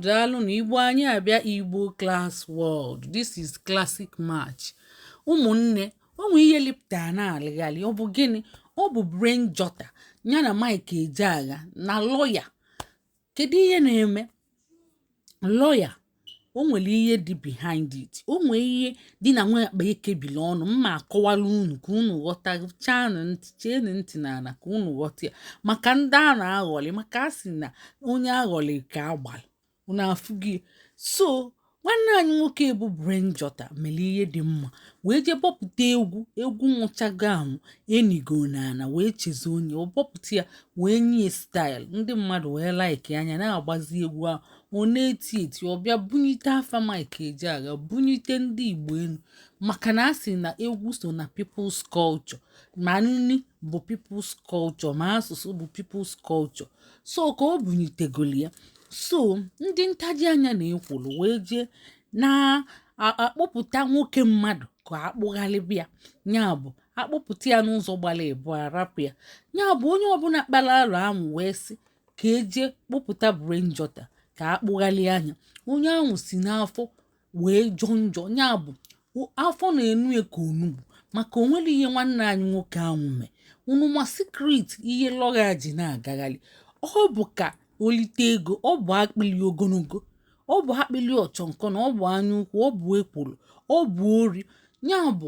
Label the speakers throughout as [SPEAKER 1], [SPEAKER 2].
[SPEAKER 1] daalụnụ igbo anyị abịa igbo class world this is classic match ụmụnne o nwe ihe lịpụta na-alịghalị ọ bụ gịnị ọ bụ brain jotter ya na mike ejeagha na lọya kedu ihe na-eme lọya o nwere ihe dị behind it o nwee ihe dị na nwa akpa ekebiri ọnụ m ma-akọwala unu ka unu ghọta chanụ ntị cheenụ ntị n'ala ka unu ghọta ya maka ndị a na-aghọlị maka a sị na onye aghọlị ka agbara unu afụ gị so nwanne anyị nwoke bụ brain jotter mere ihe dị mma wee jee bọpụta egwu egwu nwụchago anwụ enigo n'ala wee chezọọ nya ọ bọpụta ya wee nye style ndị mmadụ wee laịkịa nya na-agbazi egwu ahụ ọ na-eti eti ọ bịa bunyite afa Mike Ejeagha bunyite ndị Igbo enu maka na a sị na egwu so na people's culture ma nni bụ people's culture ma asụsụ bụ people's culture so ka ọ bunyitegolu ya so ndị ntaji anya na ekworo wee jee na-akpụpụta nwoke mmadụ ka akpụghalịba ya ya bụ akpụpụta ya n'ụzọ gbara abụa rapụ ya ya bụ onye ọbụla kpara alụ ahụ wee sị ka eje kpụpụta brain jotter ka akpụghalịa nya onye ahụ si n'afọ wee jọọ njọ ya bụ afọ na-enu ya ka onugbu maka o nwere ihe nwanne anyị nwoke ahụ mee unu ma secret ihe lọya ji na-agaghalị ọ bụ ka o lite ego ọ bụ akpịlị ogologo ọ bụ akpịlị ọchọnkọ na ọ bụ anya ukwu ọ bụ ekworo ọ bụ ori ya bụ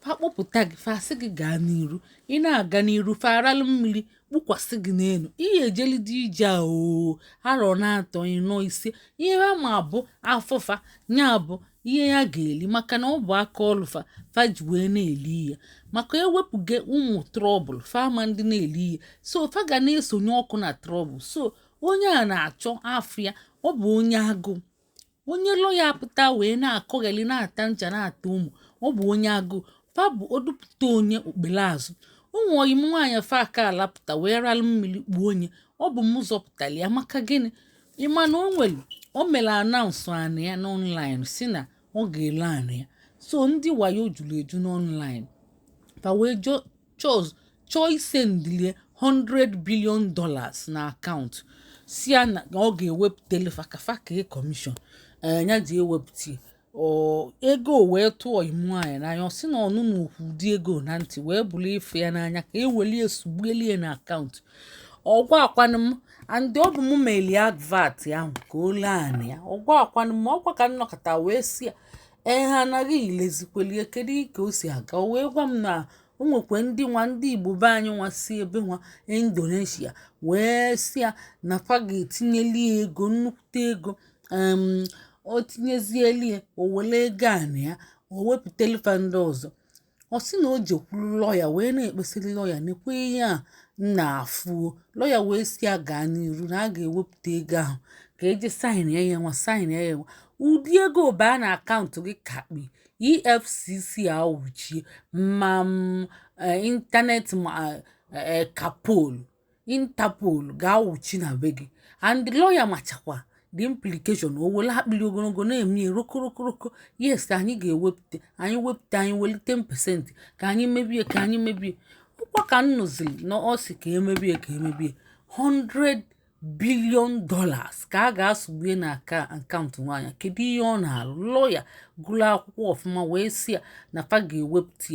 [SPEAKER 1] fa kpọpụta gị fa asị gị gaa n'iru ị na-aga n'iru fa aralụ mmili kpukwasị gị n'enu ihe ejelidi ije a oo arọ na-atọ ịnọ ise ihe ha ma bụ afọ fa ya bụ ihe ya ga-eli maka na ọ bụ aka ọlụ fa fa ji wee na-eli ihe maka ewepụga ụmụ trouble fa amadị na-eli ihe so fa ga na-esonye ọkụ na trouble so onye a na-achọ afọ ya ọ bụ onye agụụ onye lọya apụta wee na-akọgheli na-ata ncha na-ata omo ọ bụ onye agụụ fa bụ odupụta onye okpele azụ o nwe ọyị m nwaanyị fa aka alapụta wee ralụ mmili kpuo nya ọ bụ m zọpụtara ya maka gịnị ị ma na o nwere o mere announce anị ya n'online si na ọ ga-ele anị ya so ndị wayo juru eju n'online fa wee jụọ chọ chọọ isendili ya 100 billion dollars na account sị ya na ọ ga-ewepụtele fa ka fa ka e commission a ya-eji ewepụta ego wee tụ ọyị m nwaanyị n'anya ọ sị na ọnụ na okwu ụdị ego na ntị wee bụrụ ife ya n'anya ka ewelie sugbuelie na account ọ gwakwanụ m and ọ bụ m meli advert ahụ ka o lee anị ya ọ gwakwanụ m ọkwa ka m nọkata wee sị ya ee ha anaghị ilezikwelie kedu ka o si aga o wee gwa m na o nwekwa ndị nwa ndị igbo be anyị nwa si ebe nwa indonesia wee sị ya na fa ga-etinyeli ego nnukwute ego o tinyezieli ya o were ego a na ya o wepụtali fa ndị ọzọ ọ sị na o jekwuru lọya wee na-ekpesiri lọya nekwe ihe ya na-afụ o lọya wee sị ya gaa n'iru na a ga-ewepụta ego ahụ ka e jee saịn ya ya nwa saịn ya ya nwa ụdị ego baa na akaụntụ gị kakpi efcc awụchie ma internet ma kapolu interpol ga-awụchi na be gị and lọya machakwa the implication o were akpịrị ogologo na-eme rokorokoro yes anyị ga-ewepụta anyị wepụta anyị weli 10% ka anyị mebie ka anyị mebie ọkwa ka m nụziri na ọ sị ka e mebie ka e mebie 100 billion dollars ka a ga-asụgbue na aka akaụntụ nwaanyị kedu ihe ọ na-alụ lọya gụrụ akwụkwọ ọfụma wee sị ya na fa ga-ewepụta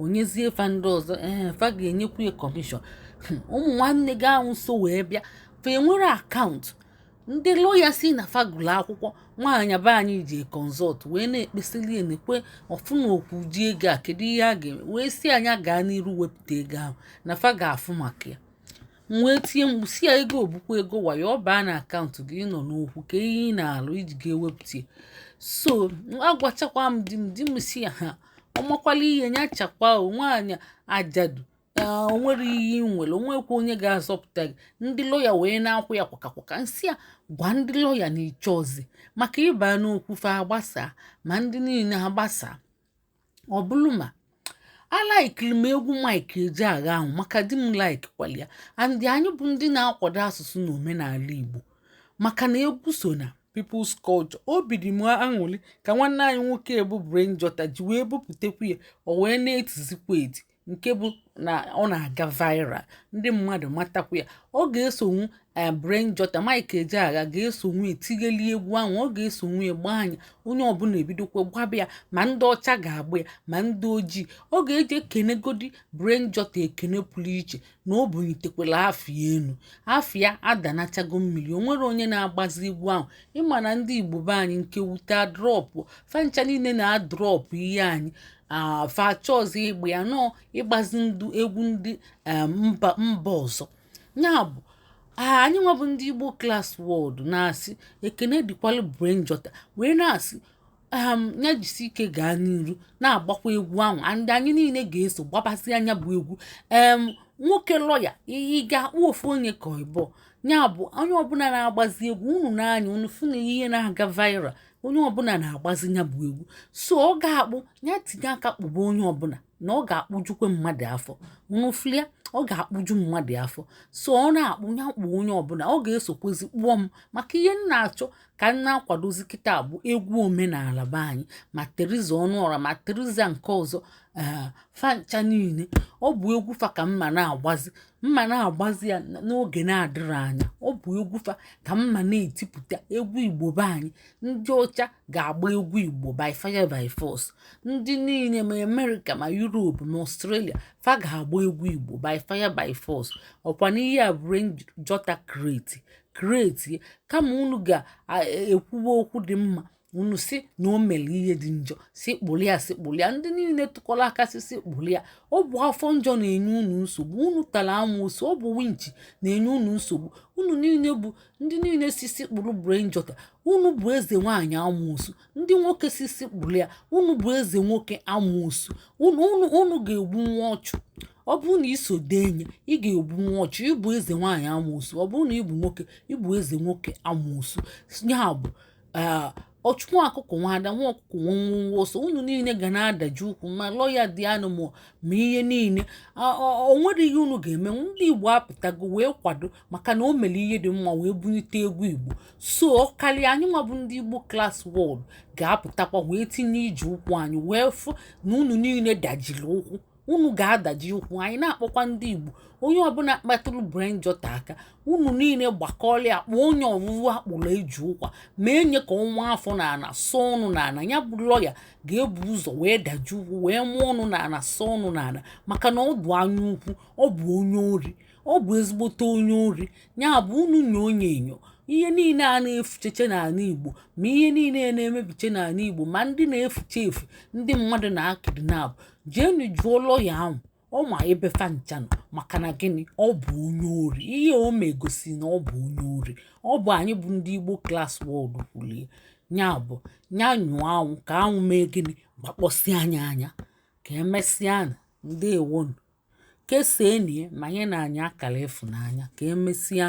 [SPEAKER 1] o nyezie fa ndị ọzọ ee fa ga-enyekwu ya kọmishọn hmm, ụmụ nwanne gị ahụ so wee bịa fa enwere akaụntụ ndị lọya sị na fa gụlụ akwụkwọ nwaanyị be anyị ji kọnsọlt wee na-ekpesili enekwe ọfụ na okwu ji ego a kedu ihe a ga-eme wee sị ya nya gaa n'iru wepụta ego ahụ na fa ga-afụ maka ya m wee tie mkpu sị ya ego ọ bụkwa ego wayo ọ baa na akaụntụ gị nọ n'okwu ka ihe ị na-alụ i ji ga-ewepụta so agwachakwa m di m di m sị ya ha ọ makwala ihe nya chakwa nwaanyị ajadu o nwere ihe ị nwere o nwekwa onye ga-azọpụta gị ndị lọya wee na-akwụ ya kwakakwaka m sị ya gwa ndị lọya na ị chọọzi maka ịba n'okwu fa agbasa ma ndị niile agbasa ọ bụrụ ma alaikiri m egwu mike ejeagha ahụ maka di m like kwali ya and anyị bụ ndị na-akwado asụsụ na omenala igbo maka na egwu so na people's culture obi dị m aṅụrị ka nwanne anyị nwoke bụ Brain Jotter ji wee bupụtakwu ya o wee na-etizikwa eti nke bụ na ọ na-aga viral ndị mmadụ matakwu ya ọ ga-esonwu eh, Brain Jotter Mike Ejeagha ga-esonwu etigheli egwu ahụ ọ ga-esonwu agba nya onye ọbụla ebidokwa gbaba ya ma ndị ọcha ga-agba ya ma ndị ojii ọ ga-eji ekenegodi Brain Jotter ekene pụrụ iche na o bunitekwala afa ya enu afa ya adanachago mmiri o nwere onye na-agbazi egwu ahụ ị ma na ndị igbo be anyị nke wute adrọpụ fa ncha niile na-adrọpụ ihe anyị fa achọzi ịgba ya na ọ ịgbazi ndị egwu ndị mba ọzọ ya bụ anyị nwa bụ ndị igbo class world na-asị ekene dịkwalụ brain jotter wee na-asị um ya jisi ike gaa n'iru na-agbakwa egwu ahụ and anyị niile ga-eso gbabasịa nya bụ egwu em nwoke lọya ihe ị ga-akpụ ofu onye ka ịbụ ya bụ onye ọbụla na-agbazi egwu unu n'anya unu fụ na ihe na-aga viral onye ọbụla na-agbazi ya bụ egwu so ọ ga-akpụ ya tinye aka kpụba onye ọbụla na ọ ga-akpụjukwe mmadụ afọ unu fụlụ ya ọ ga-akpụju mmadụ afọ so ọ na-akpụ ya kpụ onye ọbụla ọ ga-esokwezi kpụọ m maka ihe m na-achọ ka m na-akwadozi kịta bụ egwu omenala be anyị ma theresa ọnụọra ma theresa nke ọzọ ee fa ncha niile ọ bụ egwu fa ka m ma na-agbazi m ma na-agbazi ya n'oge na-adịrị anya ọ bụ egwu fa ka m ma na-etipụta egwu igbo be anyị ndị ọcha ga-agba egwu igbo by fire by force ndị niile ma america ma europe ma australia fa ga-agba egwu igbo by fire by force ọkwa n'ihe a brain jotter create create kama unu ga-ekwuwe e, okwu dị mma unu sị na o mere ihe dị njọ sị kpụlụ ya sị kpụlụ ya ndị niile tụkọrọ aka sị sị kpụlụ ya ọ bụ afọ njọ na-enye unu nsogbu unu tara amoosu ọ bụ winchi na-enye unu nsogbu unu niile bụ ndị niile sị sị kpụrụ brain jotter unu bụ eze nwaanyị amoosu ndị nwoke sị sị kpụlụ ya unu bụ eze nwoke amoosu unu ga-egbu nwa ọchụ ọ bụrụ na i so denye ị ga-egbu nwa ọchụ ị bụ eze nwaanyị amoosu ọ bụrụ na ị bụ nwoke ị bụ eze nwoke amoosu ya bụ ee ọchụ nwa ọkụkọ nwe ada nwa ọkụkọ nwe nwe nwe ọsọ unu niile ga na-adaji ụkwụ ma lọya dị anụ ma ma ihe niile A- ọ- o nwere ihe unu ga-eme ndị igbo apụtago wee kwado maka na o mere ihe dị mma wee bunite egwu igbo so ọ karịa anyị nwa bụ ndị igbo class world ga-apụtakwa wee tinye ije ụkwụ anyị wee fụ na unu niile dajiri ụkwụ unu ga-adaji ụkwụ anyị na-akpọkwa ndị igbo onye ọbụla kpatụrụ brain jotter aka unu niile gbakọọla ya kpọọ onye ọwụwụ akpụrụ eji ụkwa ma enye ka ọnwa afọ na ana sọ ọnụ na ana ya bụ lọya ga-ebu ụzọ wee daji ụkwụ wee mụọ ọnụ na ana sọ ọnụ na ana maka na ọ bụ anya ukwu ọ bụ onye ori ọ bụ ezigbote onye ori ya bụ unu nyoo onye enyo ihe niile a na-efucheche n'ala igbo ma ihe niile na-emebiche n'ala igbo ma ndị na-efuche efu ndị mmadụ na-akidnap jeenụ jụọ lọya ahụ ọ ma ebe fa ncha nọ maka na gịnị ọ bụ onye ori ihe o megosi na ọ bụ onye ori ọ bụ anyị bụ ndị igbo class world kwulu ya ya bụ ya nyoo anwụ ka anwụ mee gịnị gbakpọsịa nya anya ka emesịa nụ ndewonụ kesaanụ ya ma nyenụ anyị akara ịfụnanya ka emesịa